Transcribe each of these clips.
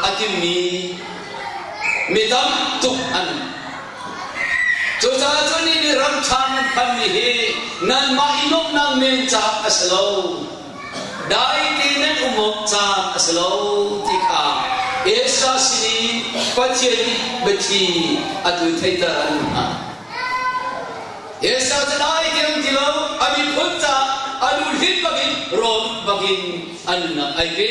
a timmi mi tam tuk an um. Cucaah cun ni nih ram ṭha hmanmi hi nanmah i nuamhnak men caan a si lo. Dai tein um awk caan a si lo ti kha Esra sin i Pathian nih biathli atu theiter an hmuh hna. Esra cu dai tein um ti lo a miphun caah a lu hlit bakin rawn bakin an nunnak ai pe.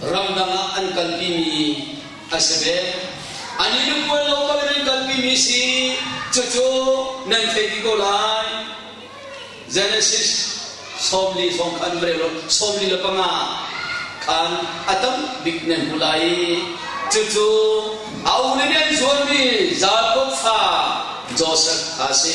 ramdang ah an kalpimi a si ve. An i lupuan local in an kalpimi si, cucu nan thei ti ko lai. Genesis sawmli hrawng khan mrelo sawmli le panga khan a tam bik nan hmu lai. Cucu a ulin an zuarmi Jakob fa Joseph kha a si.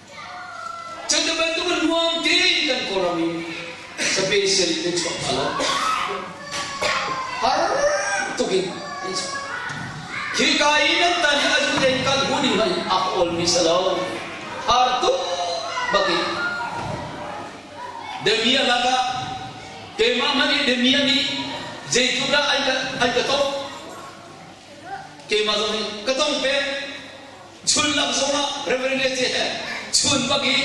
Cu ti bantuk nuam tein kan Kawlram in special kan chuak lo. Har tuk in kan chuak. Khi ka i nan tan hi a zu den kan hu ding in a ka olmi sa lo. Har tuk bakin. Demia lakah keimah hmanh nih demia nih zeitluk dah an ka an ka tong keimah zong nih ka tong peng Sullam zongah Rev. JM. Chun bak i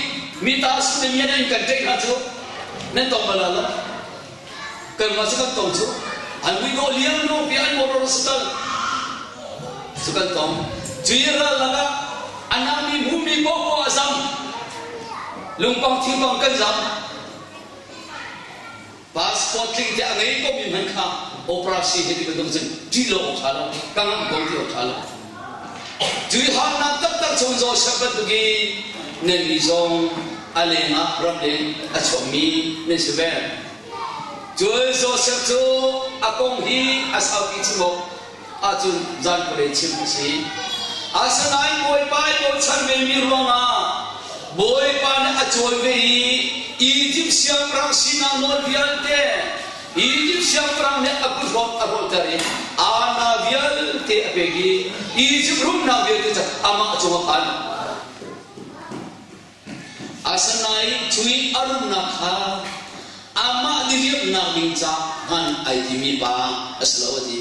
mitaa Sudemian in kan tei hna cu nan tong bal lo. Kanmah cu kan tong cu an vui dawh liam hnu bia an boror a si tal cu kan tong. Cuih rallak ah a nami hmumi pohpoah a zam. Lungpang thirbang kan zam. Passport tling tiah a ngei komi hmanh kha operasi hi ti bantuk cun ṭih lo awk ṭha lo, ka ngamh ko ti awk ṭha lo. Tuihalnak taktak cun Josef bantuk i nannih zong a leng ah ramleng a chuakmi nan si ve. Cun Josef cu a kong hi a saupi chim awk ahcun zan khualei chim a si. Asinain Bawipa i bochan vemi ruangah Bawipa nih a cawi ve i Izipt siangpahrang sinah nawl vialte Izipt siangpahrang nih a kut hrawk a rawhter i Ana vialte a pek i Izipt rumnak vialte cu amah cungah khan Asinain cu i a rumnak kha amah nih riamhnak ding caah hman ai timi pa a si lo a ti.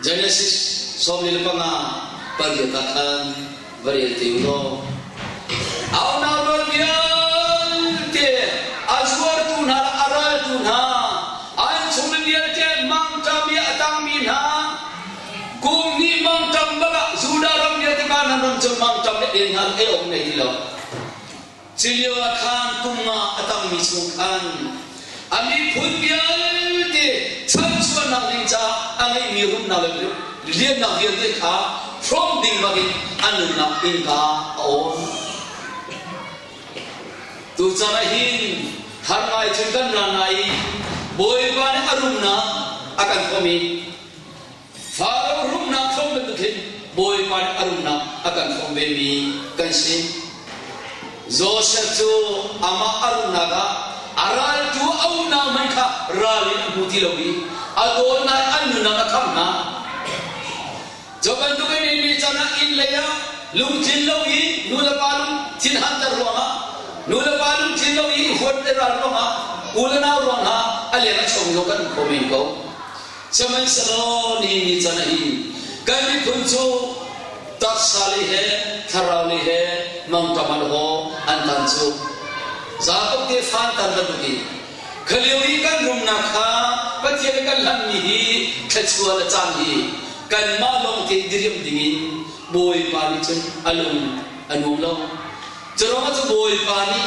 Genesis sawmli le panga pariat ah khan va rel te u law a unaupa vialte a zuartu hna le a raltu hna an chung mi vialte mangṭami a tangmi hna Kum hnih mangṭam bak ah Judah ram vialte Kanaan ram cu mangṭam le ei hna ei awk nei ti lo. Cilio ah khan kum nga a tangmi chung khan a miphun vialte chanchuahnak ding caah a ngeihmi rumnak le liannak vialte kha hrawm ding bak in a nunnak innka a awn. Tuchan ah hin thar ngai cun kan ra lai i Bawipa nih a rumnak a kan hrawm i Father rumnak thawng bantukin Bawipa in a rumnak a kan thawng vemi kan si. Joseph cu amah a rumnak ah a raltu a unau hmanh kha ral in a hmu ti lo i a dawtnak an nunnak a kham hna. Cu bantukin Eli chan ah inn lei ah lungthin lo i nu le pa lungthin hanter ruangah nu le pa lungthin lo i huat le ral ruangah u le nau ruang hna a leng a chawm lo kan hmu kho men ko. Sihmanhsehlaw nihin ni can ah hin kan miphun cu taksa lei he thlarau lei he mangṭam an haw an tan cu Jakob tefa an tan bantuk in khalio i kan rumnak kha Pathian nih kan hlanhmi hi thluachuah le caan hi kanmah lawng te diriam ding in Bawipa nih cun a lung a nuam lo. Cu ruangah cu Bawipa nih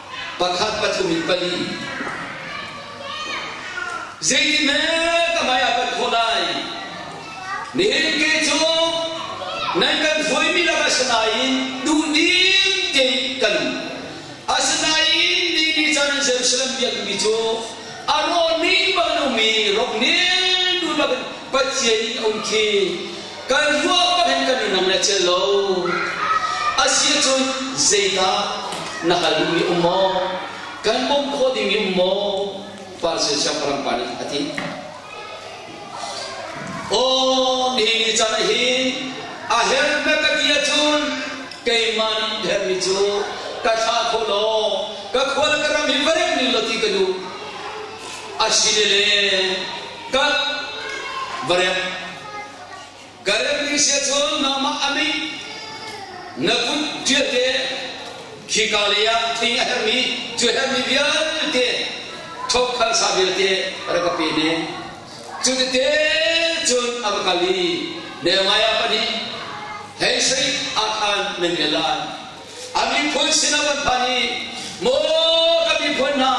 pakhat pathum in pali zeitikhmanh ka hmai ah kan thawh lai nihin ke cu nan kan hruaimi lakah sinain duhdim tein kan asinain ni ni caan an Jerusalem biakmi cu a rawh ning bang lomi rok nih duhnak in Pathian in a um khi Kan ruah pah in kan i nam le celh lo. Asicun zeidah na hal duhmi um maw? Kan bawmh khawh dingmi um maw? Farasir siangpahrang pa nih a ti. Aw, nihin ni caan ah hi a her hme ka ti ahcun keimah nih hermi cu ka thlah kho law ka khual ka ram hi va remh ning law ti ka duh. A si le le ka va remh Ka remmi sia cun nangmah a mit na kut ṭialte khika leiah tling a herhmi cu herhmi vialte thawkkhan sa vialte rak ka pe ne. Cutete cun a ka kal i Nehemiah pahnih hei sei ah khan nan bia lai. A miphun sin a van phan i, Maw ka miphun hna,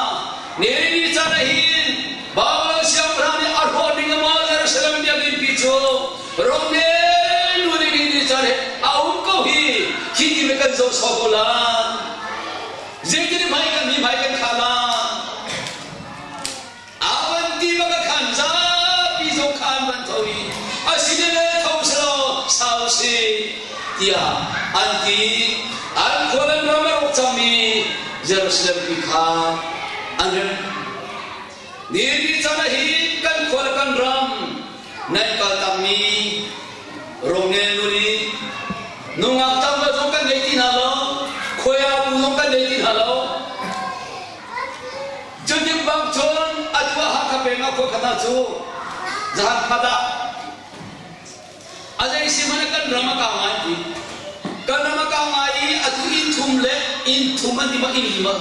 Neri ni caan ah hin Babilon siangpahrang nih a hrawh ding maw Jerusalem biakinn pi cu rongdeng nu nih nihin ni caan he a um ko hi, khi ti mit kan zoh sawh ko lai. Zeitin hmai kan mi hmai kan kha lai. A van ti bak a khan zapi zong kha an van tho i a sinale tho selaw sau si tiah an ti. An khua nan ram a rawk cang i Jerusalem tu kha an remh. Ni ni caan ah hin kan khua le kan ram nan kal tangmi rongnel nu nih nungak tangka zong kan ngei ti hna lo, khuaya bu zong kan ngei ti hna lo. Cu timbang cun a tuah Hakha peng ah khua khatah cu zahan khat ah a zeisi hmanh kan ram a kang ngai ti kan ram a kang ngai i atu innthum le innthum an tima inn lima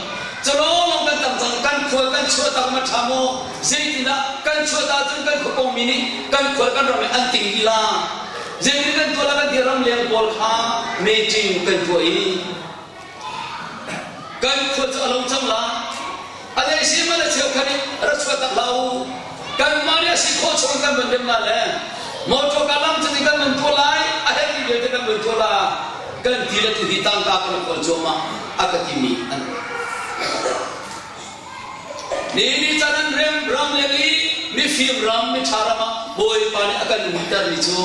calawnglawng kan tam cang kan khual kan chuah tak ma ṭha maw zeitinah kan chuah ta cun kan khua pongmi nih kan khual kan ram an ting lila zeitin kan tuah la kan ti ram lian pawl kha meeting kan tuah i kan khuat a lo cang la a le si ma le cheu khan i ra chuat tak la u kan ma nih a si khawh chung kan van rem la le motor ka lam cu kan van tuah lai a hei ti vialte kan van tuah la kan ti le tu hi tangka kan kawl cuahmah a ka timi an ni ni chan an rem ram le ni mifim ram mi tha ram ah bawipa nih a kan umter ni cu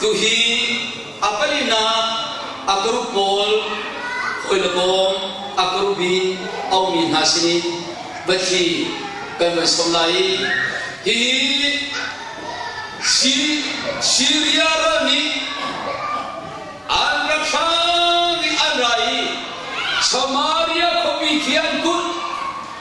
Tuhi a peinak a group pawl hawi le kawm a group i a ummi hna sin i va thli kan van sawm lai i hihi Syria ram i an ra hrang i an ra i Samaria khuapi khi an kulh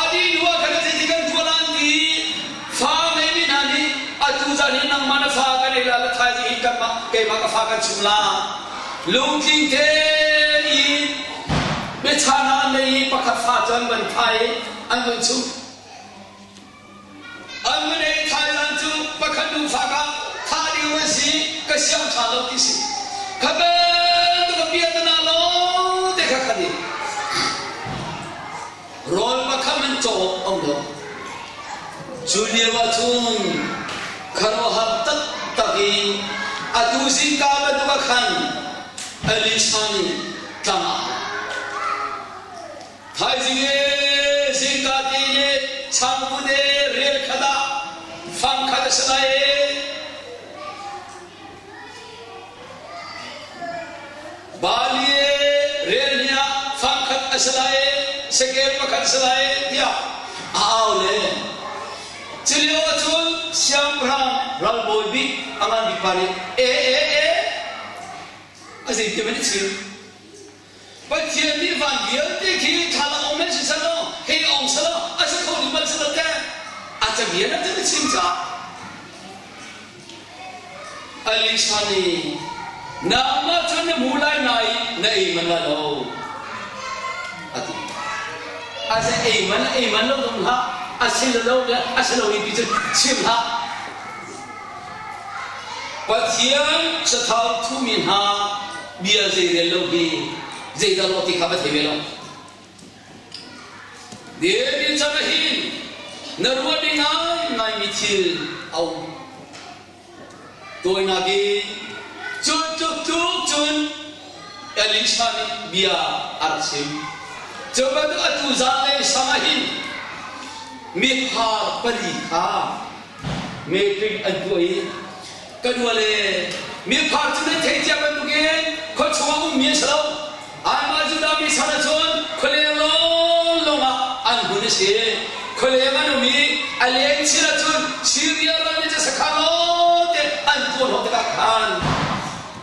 A dihduah kan si ti kan thual an ti fa ngeimi hna nih atu zan hi nangmah na fa kan ei la ka thaizing hi kanmah keimah ka fa kan chim la lungtling te in biachahna an nei i pakhat fa cu an van khai an van chuh An mine thlaidan cu pakhat nufa ka thah ding an si ka siang ṭha lo ti si. Kha belte ka bia te na lo te kha khan i rawl pakham an cawk an lo. Cu lio ahcun khuaruahhar taktak i atu zingka bantuk ah khan Elisha nih tlang ah a lut. Thaizing ee zingkate le changkute relkhat ah fangkhat a si lai ee. Bali rel ni ah fangkhat a si lai ee, sekeng pakhat a si lai ee, tiah a au le. Culio ahcun siangpahrang ralbawi bik a ngan bik pa nih, ee, ee, ee, a zeitin maw nih chim? Pathian nih van vialte khi thlalak um in siselaw hei ong selaw a si kho ding bal selaw teh a camian a cun chim ca Elisha nih nangmah cu na hmu lai na i na ei manh la lo a ti a se ei manh ei manh lo dong hlah a si lo lo a si lo i ti cun chim hlah Pathian sathau thuhmi hna bia zeirel lo hi zeidah law ti kha va thei ve lo. David chan ah hin na ruah ding ngaimi thil a um. Tawinak in cu tluk tluk cun Elisha nih bia a rak chim. Cu bantuk atu zan le sang ah hin miphar pali kha Metric an tuah i kan wale mifar cu nan thei cia bantuk in khua chungah ummi an si lo anmah Judah mi san ahcun khualeng lawng lawng ah an hun i si khualeng an um i a leng chin ahcun Syria ram i ca sakha lawng te an tuan hau tikah khan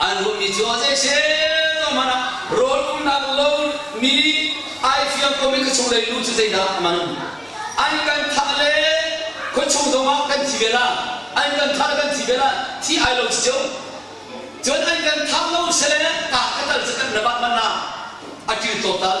An ruahmi cu ah zeiset hmanh ah rawl umnak lo mi ai fiang komi ka chunglei nu cu zeidah a man? An kan thah le khuachung zong ah kan thi ve la, an kan thah le kan thi ve la, thi ai lo cio. Cun an kan thah lo sele ta kha tal cu kan ra bah man na a kil tlawtal.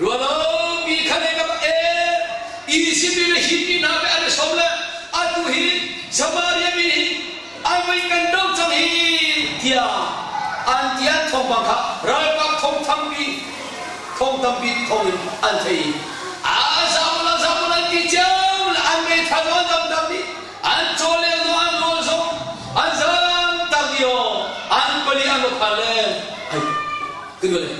Rualo mi khan e kam e Egypt le hi mi hna be an som le atu hi Samaria mi hi an mei kan do cang hi tiah an ti an thawngpang kha ralkap thong thangpi thong tampi thong in an thei a zamu la zamu la ti ciam le an mei tha zo an dam dam ni an chole zo an rol zo an zam tak yo an pali an lo kha le ai kinu le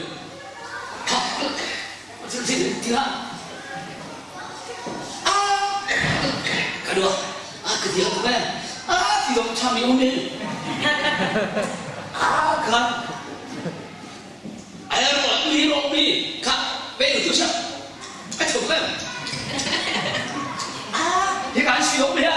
ka dua a ka ti a ka bel a ti dong chami um in a kan ai ro mi ro mi ka be tu sha a chuk le a hi kan si dong ya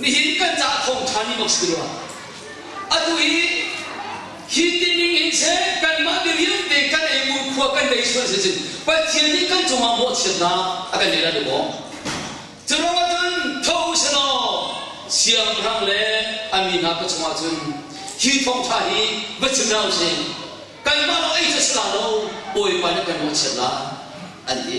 Nihin kan cah thawngtha nih mak si rua. Atu hi hi ti ning hin seh kanmah mi vialte kan ei ngunkhuaa kan bei sual si cun Pathian nih kan cungah mawhchiatnak a kan ngeih lai lo maw? Curuang ahcun tho u si law siangpahrang le a mi hna ka cungah cun hi thawngtha hi va chim hna u sih. Kanmah lawng ei cu a si la lo, Bawipa nih kan mawhchiat lai, an ti.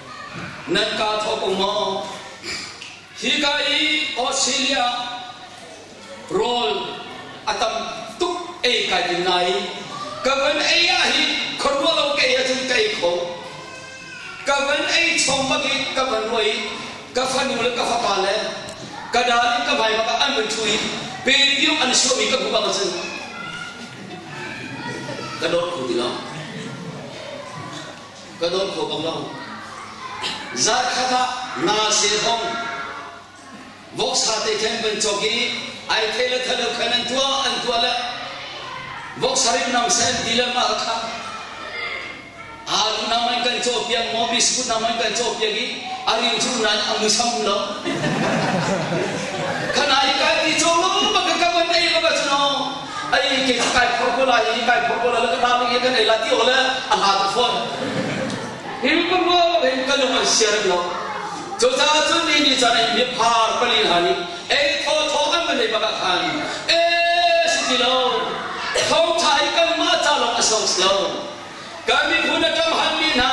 nan ka thawk u maw hika i australia rawl a tam tuk ei kai ding nai ka van ei ah hi khuaruah lo ka ei ahcun ka ei kho ka van ei chawm bak i ka van ruai ka fanu le ka fapa le ka dal in ka vai bak ah an van thu i pe piu an suah mi ka hmu bak ahcun ka dawt kho ti lo ka dawn kho bang lo. Zarkhat ah nga zehong voksa te khan kan cawk i ai thei le thalo khan an tuah an tuah le voksa rim nam sen ti le ma kha aru nam an kan caw piak mo biskut nam an kan caw piak i a riu cu nan amu sam lo khana hi ka ti chong lo ba ka ka ban dei ba ka chuno ai ke kai phor ko lai i kai phor ko lai ka ta mi kan ei la ti o le a hla tu phon him ko ro in kan lo share lo to ta tu ni ni cha ni phar pali ha ni ei tho tho kan man nei baka khan e si ti lo thong thai kan ma cha lo a song lo Kan miphun a ṭam hanmi hna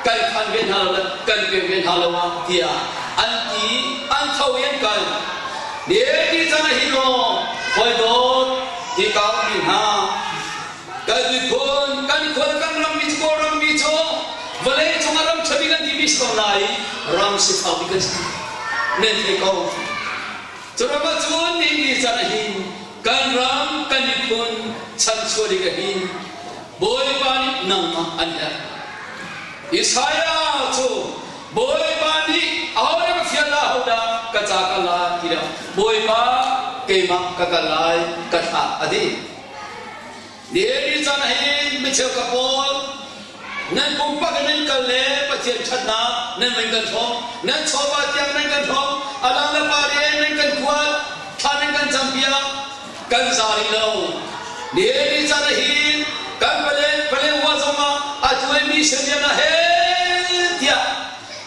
kan khan ve hna lo, kan pek ve hna lo tiah an ti an tho i an kal. Neki chan ah hi lawng hawidawt hi ka ummi hna kan miphun kan khual kan rammi cu kawl rammi cu vawlei cungah ram ṭhami kan timi si ko lai ram si thaupi kan si men thei ko. Cu ram ahcun Neki chan ah hin Kan ram kan miphun chanchuah ding ah hin Bawipa nih nangmah an herh. Isaiah cu Bawipa nih ahodah fial ahodah ka ca ka lai tiah Bawipa keimah ka kal lai ka thlah a ti. David chan ah hin mi cheukhat pawl nan pumpak in nan kal le Pathian ṭhatnak nan van kan ṭhawng, nan chawva tiang nan kan ṭhawng, a dang le pa rian nan kan kuat, thla nan kan campiak, kan za rih lo. David chan ah hin kan pale pale huwa zongah a tuaimi hriamlian ah heh tiah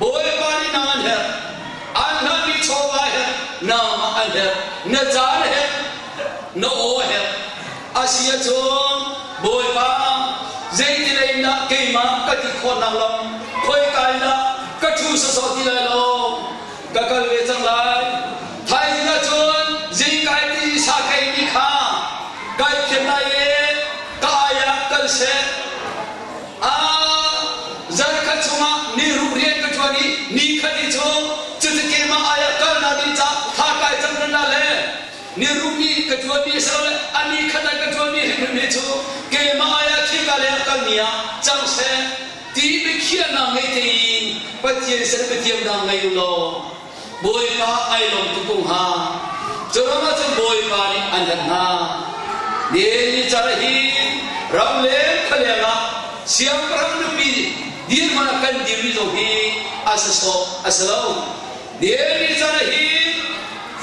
Bawipa nih nang an herh, an hngalhmi chawva herh, nangmah an herh, na caan herh, na aw herh. Asi ahcun, Bawipa, zeitilei in dah keimah ka ti khawhnak lam khoika in dah ka ṭhu sawsawh ti lai lo? Ka kal ve cang lai. Thaizing ahcun zeikai ti sakheimi kha kai thiam lai i ka ai ah kal seh. Zarhkhat chungah ni ruk rian ka ṭuan i ni khat i chawng, cuti keimah ai ah kalnak ding ca thlakai canrana le ni ruk i ka ṭuanmi asilole a ni khat ai ka ṭuanmi hrimhrimmi cu keimah ai ah khika lei ah kalmi ah cang seh ti biakhiahnak ngei tein Pathian sal biatiam dang ngei u law Bawipa ai lawm tuk hnga. Curam ahcun Bawipa nih an hlat hna. Nicar hi ramleng khualeng ah siangpahrang nupi nih dirhmun ah kan dirmi zong hi a si sawh a si lo. Nicar hi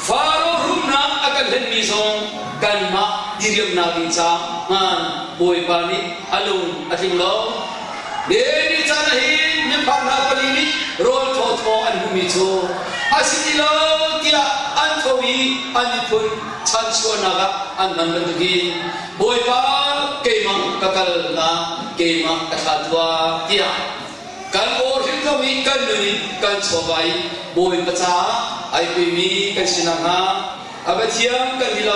Faraoh rumnak a kan hlenmi zong kanmah diriamnak ding caah Bawipa nih a lung a tling lo. Daily caan ah hin minfang hna pali nih rawl thawthaw an hmuhmi cu a si ti lo tiah an tho i an miphun chansuarnak ah an hman bantuk in Bawipa keimang ka kalnak keimah ka thlah tuah tiah kan aw hrimhrom i kan nun in kan chuahva i Bawipa caah ai pemi kan si nakhnga a Pathian kan lila